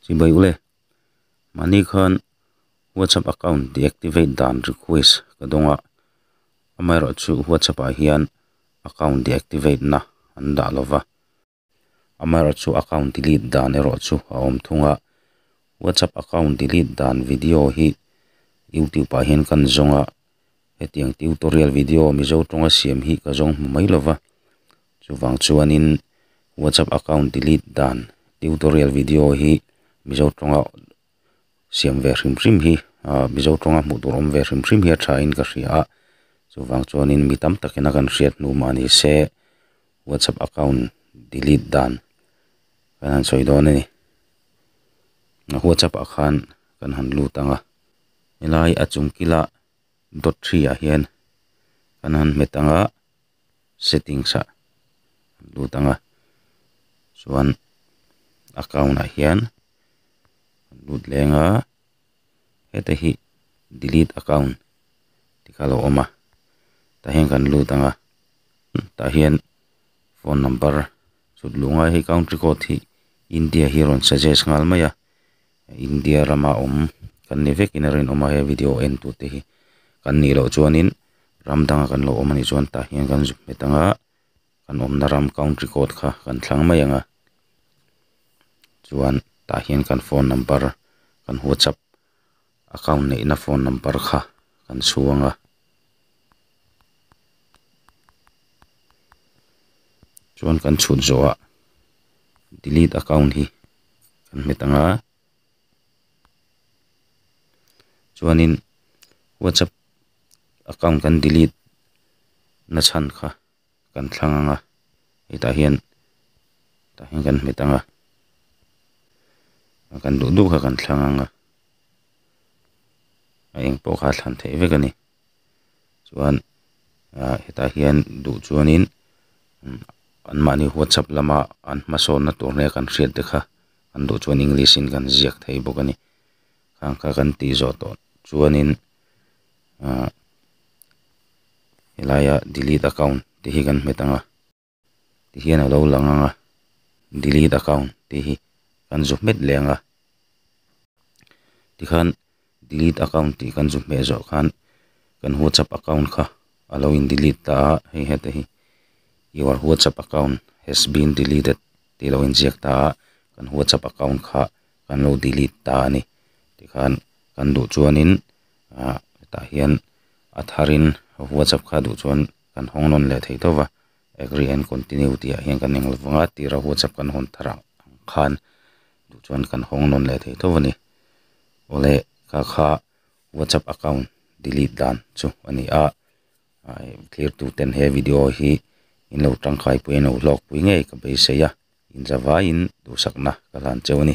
Chibai ule, mahni khan WhatsApp account deactivate dan request ka dawng a, amaherawh chu WhatsApp ah hian account deactivate na an dah lo va, amaherawh chu account delete dan erawh chu a awm thung a, WhatsApp account delete dan video hi YouTube ah hian kan zawng a, hetiang tutorial video Mizo tawnga siam hi ka zawng hmu mai lo va, Chuvang chuanin WhatsApp account delete dan tutorial video hi Mizo tawnga siam ve hrim hrim hi ah Mizo tawnga hmuh tur awm ve hrim hrim hi a thain ka hria a, chuvang chuanin mi tam takin a kan hriat hnu mah ni se WhatsApp account delete dan kan han sawi dawn a ni. WhatsApp ah khan kan han lut ang a, helai a chung kila dot hri ah hian kan han hmet ang a. settings ah kan lut anga chuan account ah hian kan lut leng a heta hi delete account tih kha lo awm a tah hian kan lut anga tah hian phone number chhut luh ngai hi country code hi India hi a rawn suggest nghal mai a. India rama awm kan ni vekin a rinawm a he video a en tur te hi kan nih loh chuanin ram danga kan lo awm anih chuan tah hian kan zuk hmet anga kan awmna ram country code kha kan thlang mai anga chuan tah hian kan phone number kan whatsapp account neihna phone number kha kan chhuang a chuan kan chhut zawhah delete account hi-- kan hmet ang a chuanin whatsapp account kan delete na chhan kha kan thlang ang a hetah hian tah hian kan hmet ang a a kan duh duh kha kan thlang ang a a eng pawh kha a thlan theih vek a ni. chuan ah hetah hian duh chuanin umm an mahni whatsapp lama an hmasawnna tur hi a kan hriat te kha an duh chuan english in kan ziak thei bawk a ni khang kha kan tih zawh tawh chuanin ah helaia delete account te hi kan hmet ang a. tih hian a lo lang ang a, delete account tih hi kan zu hmet leh ang a, tikhan delete account tih kan zu hmeh zawh khan kan whatsapp account kha a lo in delete ta a, hei hete hi your whatsapp account has been deleted tih lo in ziak ta a, kan whatsapp account kha kan lo delete ta a ni, tikhan kan duh chuanin ah hetah hian a thar in whatsapp kha duh chuan. kan hawng nawn leh thei tawh va, agree and continue tih ah hian kan eng lo vang a, tira whatsapp kan hawn thar ang khan duh chuan kan hawng nawn leh thei tawh a ni. Awle ka kha whatsapp account delete dan chu a ni a, ai thlir tu ten he video hi in lo tangkai pui a, in lo hlawk pui ngei ka beisei a, inzavaiin duhsakna ka hlan cheu a ni.